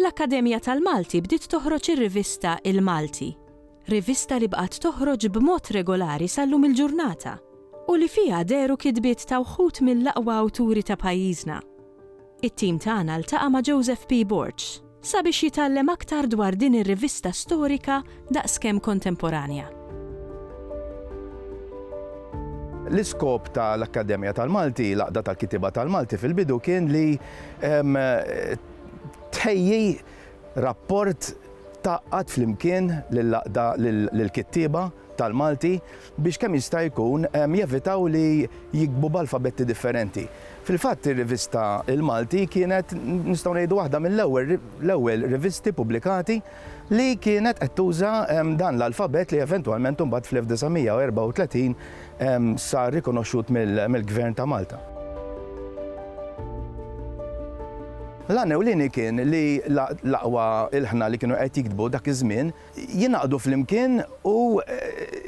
L-Akkademja tal-Malti bdiet toħroġ ir-rivista Il-Malti, rivista li bqgħet toħroġ b'mod regolari sal-lum il-ġurnata u li fiha dehru kitbiet ta' wħud mill-aqwa awturi ta' pajjiżna. It-tim tagħna ltaqa' ma' Joseph P. Borg sabiex jitgħallem aktar dwar din ir-rivista storika daqskemm kontemporanja. L-iskop ta' l-Akkademja tal-Malti, l-Għaqda tal-Kittieba tal-Malti fil-bidu kien li Tħejji rapport tgħaqqad flimkien lill-kittieba tal-Malti biex kemm jista' jkun jevitaw li jiktbu b'alfabetti differenti. Fil-fatt ir-rivista Il-Malti kienet nistgħu ngħidu waħda mill-ewwel rivisti pubblikati li kienet qed tuża dan l-alfabett li eventwalment imbagħad fl-1934 sar rikonoxxut mill-Gvern ta' Malta. L-għan ewlieni kien li l-aqwa ilħna li kienu qed jiktbu dak iż-żmien jingħaqdu flimkien u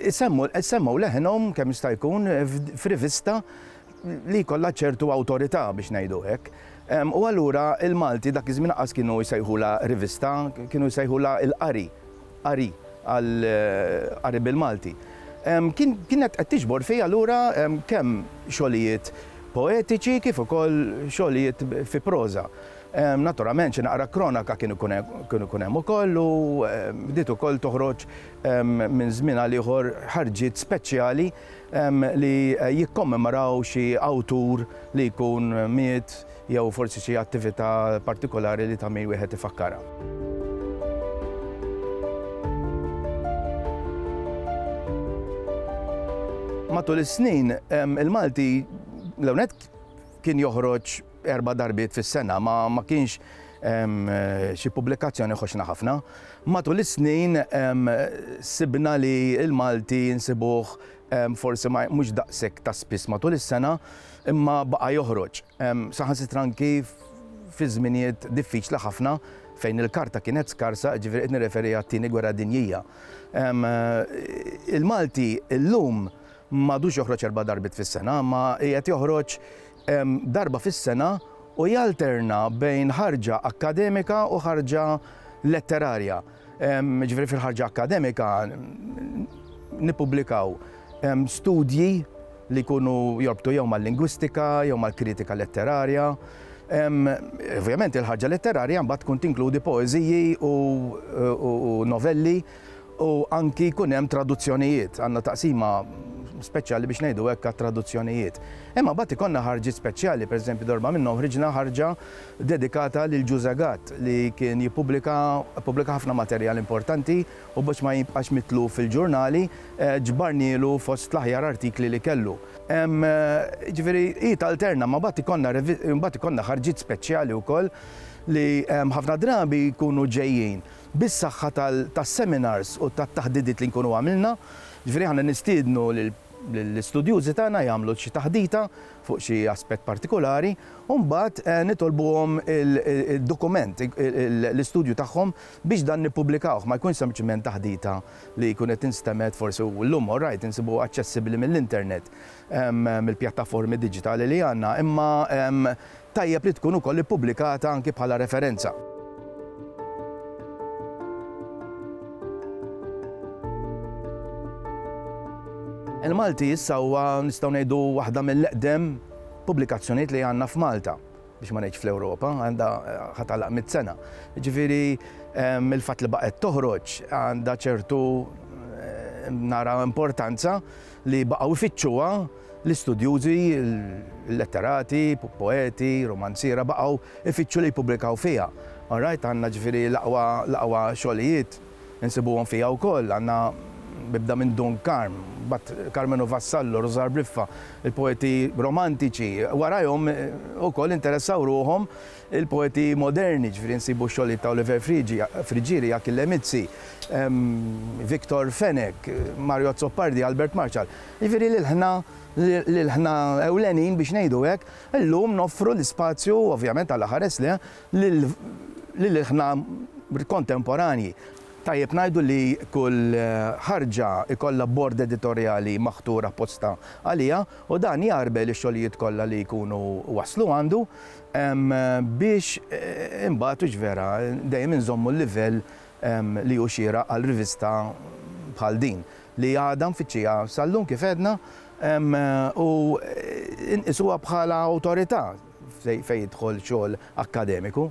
jsemmgħu leħinhom kemm jista' jkun f'rivista li jkollha ċertu awtorità biex ngħidu hekk. U allura il-Malti dak iż-żmien lanqas kienu jsejħulha rivista, kienu jsejħulha il-qari, qari għal qari bil-Malti. Kienet qed tiġbor fiha lura kemm xogħlijiet poetiċi kif ukoll xogħlijiet fi proża. Naturalment xi naqra kronaka kien ikun hemm ukoll u bdiet ukoll toħroġ minn żmien għal ieħor ħarġiet speċjali li jikkommemoraw xi awtur li jkun miet jew forsi xi attività partikolari li ta' min wieħed ifakkarha. Matul is-snin, il-Malti l-ewwel nett kien joħroġ erba' darbiet fis-sena, ma ma kienx hemm xi pubblikazzjoni ħoxna ħafna. Matul is-snin sibna li l-Malti nsibuh forsi ma mhux daqshekk ta' spiss matul is-sena, imma baqa' joħroġ. Saħansitra anki fi żminijiet diffiċli ħafna fejn il-karta kienet skarsa, jiġifieri qed nirreferi għat-Tieni Gwerra Dinjija. Il-Malti llum m'għadux joħroġ erba' darbiet fis-sena, imma qiegħed joħroġ darba fis-sena u jalterna bejn ħarġa akkademika u ħarġa letterarja. Ġifieri fil-ħarġa akkademika nippubblikaw studji li jkunu jorbtu jew mal-lingwistika jew mal-kritika letterarja. Ovvjament il-ħarġa letterarja mbagħad tkun tinkludi poeżiji u novelli u anki jkun hemm traduzzjonijiet, għandna taqsima speċjali biex ngħidu hekk għat-traduzzjonijiet. Imma mbagħad ikollna ħarġiet speċjali, pereżempju darba minnhom ħriġna ħarġa dedikata lil Ġużè Gatt li kien jippubblika pubblika ħafna materjal importanti u biex ma jibqax mitluf fil-ġurnali ġbarnielu fost l-aħjar artikli li kellu. Jiġifieri hi talterna, imma mbagħad ikollna mbagħad ikollna ħarġiet speċjali wkoll li ħafna drabi jkunu ġejjin. bis-saħħa tas-seminars u tat-taħdidiet li nkunu għamilna. Jiġifieri aħna nistiednu lill-istudjużi tagħna jagħmlu xi taħdita fuq xi aspett partikulari u mbagħad nitolbuhom id-dokument, l-istudju tagħhom biex dan nippubblikawh. Ma jkunx sempliċiment taħdita li jkun qed instemgħet forsi u llum orajt insibuha aċċessibbli mill-internet, mill-pjattaformi diġitali li għandna, imma Tajjeb li tkun ukoll ippubblikata anki bħala referenza. Il-Malti issa huwa nistgħu ngħidu waħda mill-eqdem pubblikazzjonijiet li għandna f'Malta biex ma ngħidx fl-Ewropa, għandha ħatalaq mit sena. Ġifieri ehm, il-fatt li baqgħet toħroġ għandha ċertu ehm, nara importanza li baqgħu jfittxuha L-istudjużi, il-letterati, poeti, rumanziera baqgħu jfittxu li jippubblikaw fiha. All right, għandna ġifieri l-aqwa l-aqwa xogħlijiet insibuhom fiha wkoll. Għandna bibda minn Dun Karm, mbagħad Karmenu Vassallo, Rużar Briffa, il-poeti romantiċi. Warajhom ukoll interessaw ruħhom Il-poeti moderni, jiġifieri nsibu x-xogħlijiet ta' Oliver Friggieri, Achille Mizzi, Victor Fenech, Mario Azzopardi, Albert Marshall, jiġifieri l-ilħna l-ilħna ewlenin biex ngħidu hekk, illum noffru l-ispazju, ovvjament għal ħares le, lill-ilħna kontemporanji. Tajjeb ngħidu li kull ħarġa jkollha bord editorjali maħtur apposta għaliha u dan jgħarbel ix-xogħlijiet kollha li jkunu waslu għandu. biex imbagħad hux vera dejjem inżommu l-livell li hu xieraq għal rivista bħal din li għadha mfittxija sal-lum kif għedna u nqisuha bħala awtorità fejn jidħol xogħol akkademiku.